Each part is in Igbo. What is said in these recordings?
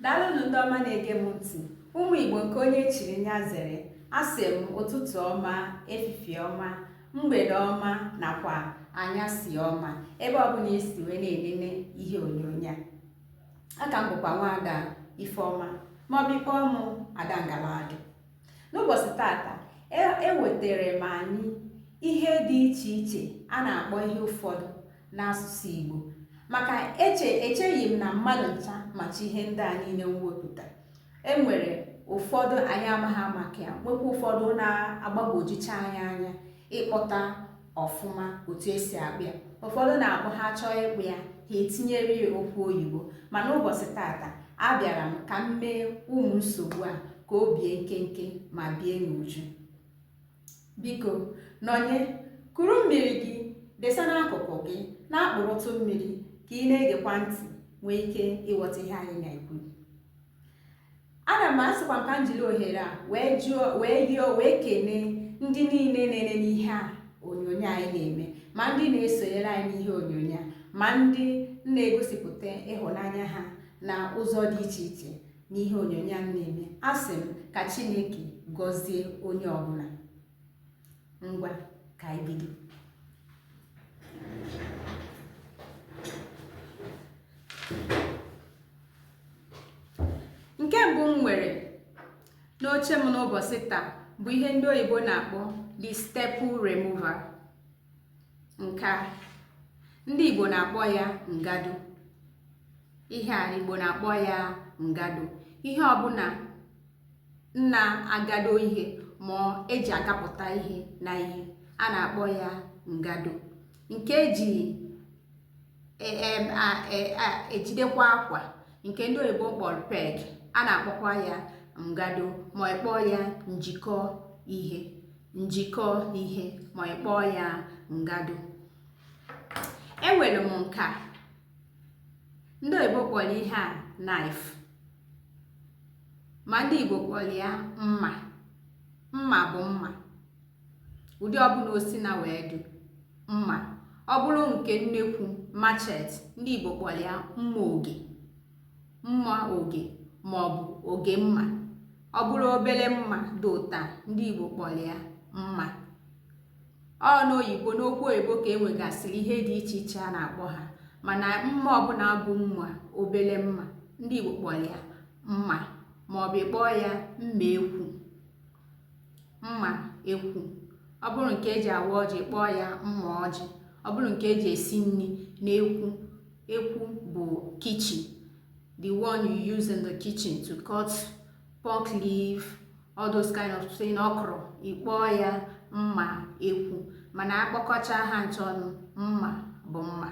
daalụnụ ndị ọma na-ege m ntị ụmụ igbo nke onye chiri nya zere asị m ụtụtụ ọma efifie ọma mgbede ọma nakwa anyasị ọma ebe ọbụla esi wee na-enene ihe onyonyo a aka m bụkwa nwaada ifeọma maọbụ ịkpọọ mụ ada ngaladụ n'ụbọchị tata ewetara m anyị ihe dị iche iche a na-akpọ ihe ụfọdụ n'asụsụ Igbo maka eche echeghị m na mmadụ ncha macha ihe ndị a niile m wepụta e nwere ụfọdụ anyị amaghị maka ya nwekwa ụfọdụ na-agbagwojucha anyị anya ịkpọta ọfụma otu esi akpọ ya ụfọdụ na-akpọ ha chọọ ịkpọ ya ha etinyere ya okwu oyibo mana ụbọchị tata abịara m ka m mee ụmụ nsogbu a ka o bie nkenke ma bie n'uju biko nọnye kuru mmiri gị desa n'akụkụ gị na-akpụrụtụ mmiri ka ị na-egekwa ntị nwee ike ịghọta ihe anyị na-ekwu Ana m asịkwa ka m jiri ohere a wee kene ndị niile na-enene ihe a onyonyo anyị na-eme ma ndị na-esonyere anyị n'ihe onyonyo a ma ndị na-egosipụta ịhụnanya ha na ụzọ dị iche iche n'ihe onyonyo a na-eme asị m ka Chineke gọzie onye ọbụla ngwa ka anyị bido nke mbụ m nwere n'oche m n'ụbọchị taa bụ ihe ndị oyibo na-akpọ the staple remover nke a ndị igbo na-akpọ ya ngado ihe a igbo na-akpọ ya ngado ihe ọbụla na-agado ihe ma eji agapụta ihe na ihe a na-akpọ ya ngado nke eji e, e, e, ejidekwa akwa nke ndị oyibo kpọrọ peg a na-akpọkwa ya ngado ma ịkpọọ ya njikọ ihe njikọ ihe ma ịkpọọ ya ngado enwere m nke a ndị oyibo kpọrọ ihe a knife ma ndị igbo kpọrọ ya mma mma bụ mma ụdị ọbụla o sina wee dị mma ọ bụrụ nke nnekwu machete ndị igbo kpọrọ ya mma oge mma oge ma ọ bụ oge mma ọ bụrụ obere mma dị otu a ndị igbo kpọrọ ya mma ọ n'oyibo n'okwu oyibo ka e nwegasịrị ihe dị iche iche a na-akpọ ha mana mma ọbụla bụ mma obere mma ndị igbo kpọrọ ya mma maọbụ ịkpọọ ya mma ekwu mma ekwu ọ bụrụ nke eji awa ọjị ịkpọọ ya mma ọjị ọ bụrụ nke eji esi nri n'ekwu ekwu bụ kitchen the one you use in the kitchen to cut pumpkin leaf all those kind of thing okra ịkpọọ ya mma ekwu mana akpọkọcha ha ncha ọnụ mma bụ mma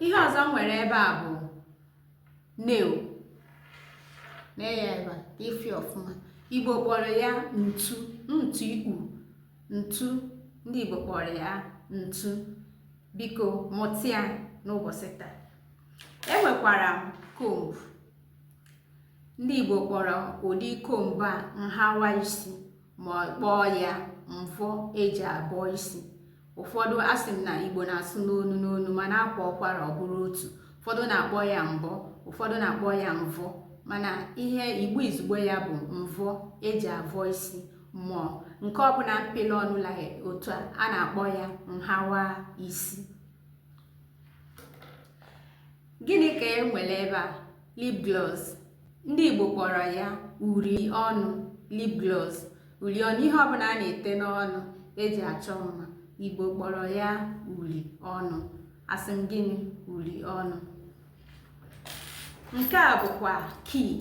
ihe ọzọ m nwere ebe a bụ nail nee ya ebe a ka ị fụ ya ọfụma igbo kpọrọ ya ntu ntu ịkpọ ntu ndị igbo kpọrọ ya ntu biko mụta ya n'ụbọchị taa enwekwara m comb ndị igbo kpọrọ ụdị comb a nhawa isi ma kpọọ ya mvọ eji abọ isi ụfọdụ asị m na igbo na-asụ n'onu n'onu mana akwaa ụkwara ọ bụrụ otu ụfọdụ na-akpọ ya mbọ ụfọdụ na-akpọ ya mvọ mana ihe igbo izugbo ya bụ mvọ eji avọ isi ma nke ọbụla mpịla ọnụ la otu a a na-akpọ ya nhawa isi Gịnị ka e nwere ebe a? Lip gloss. Ndị Igbo kpọrọ ya uri ọnụ, lip gloss. Uri ọnụ, ihe ọbụla a na-ete n'ọnụ eji achọ mma. Igbo kpọrọ ya uri ọnụ. Asị m gịnị? Uri ọnụ. Nke a bụkwa key.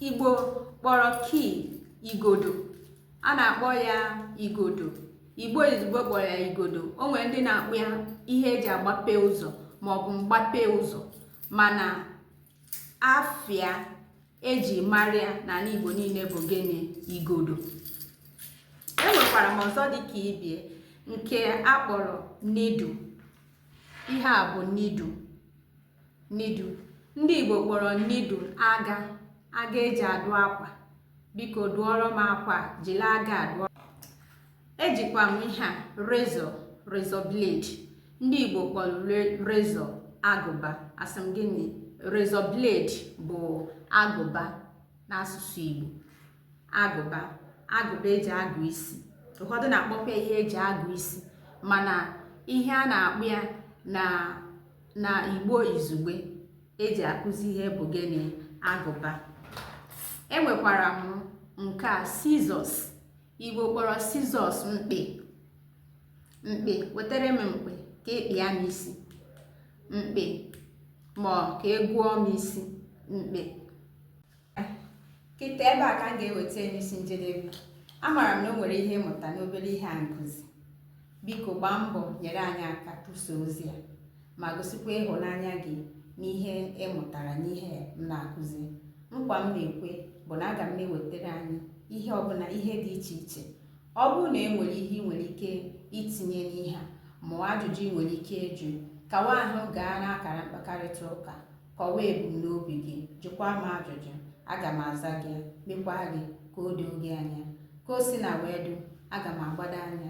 Igbo kpọrọ key igodo. a na-akpọ ya igodo igbo izugbo kpọrọ ya igodo o nwere ndị na-akpọ ya ihe eji agbape ụzọ maọbụ mgbape ụzọ mana afa ya eji mara ya n'ala igbo niile bụ gịnị igodo enwekwara m ọzọ dị ka ibe ya nke akpọrọ needle ihe a bụ needle needle ndị igbo kpọrọ needle aga aga eji adụ akwa biko dụọrọ m akwa jiri aga dụọ ejikwa m ihe a razor razor blade ndị igbo kpọrọ razor agụba asị m gịnị razor blade bụ agụba n'asụsụ igbo agụba agụba eji agụ isi ụfọdụ na-akpọkwa ihe eji agụ isi mana ihe a na-akpọ ya na na igbo izugbe eji akụzi ihe bụ gịnị agụba enwekwara m nke a scissors igbo kpọrọ scissors mkpị mkpị wetara m mkpị ka ịkpịa m isi mkpị ma ka egwuo m isi mkpị kịta ebe a ka m ga-eweta n'isi njedebe amaara m na o nwere ihe ị mụta n'obere ihe anyị kụzi biko gbaa mbọ nyere anyị aka tụsa ozi a ma gosikwa ịhụnanya gị n'ihe ị mụtara n'ihe m na-akụzi nkwa m na-ekwe bụ na aga m na-ewetara anyị ihe ọbụla ihe dị iche iche ọ bụrụ na e nwere ihe ị nwere ike itinye n'ihe a ma ajụjụ ị nwere ike ịjụ kawa ahụ gaa n'akara mkpakarịta ụka Kọwaa ebumnobi gị, jụkwaa m ajụjụ, aga m aza gị, mekwaa gị ka o doo gị anya. Ka o sina wee dị, aga m agbado anya.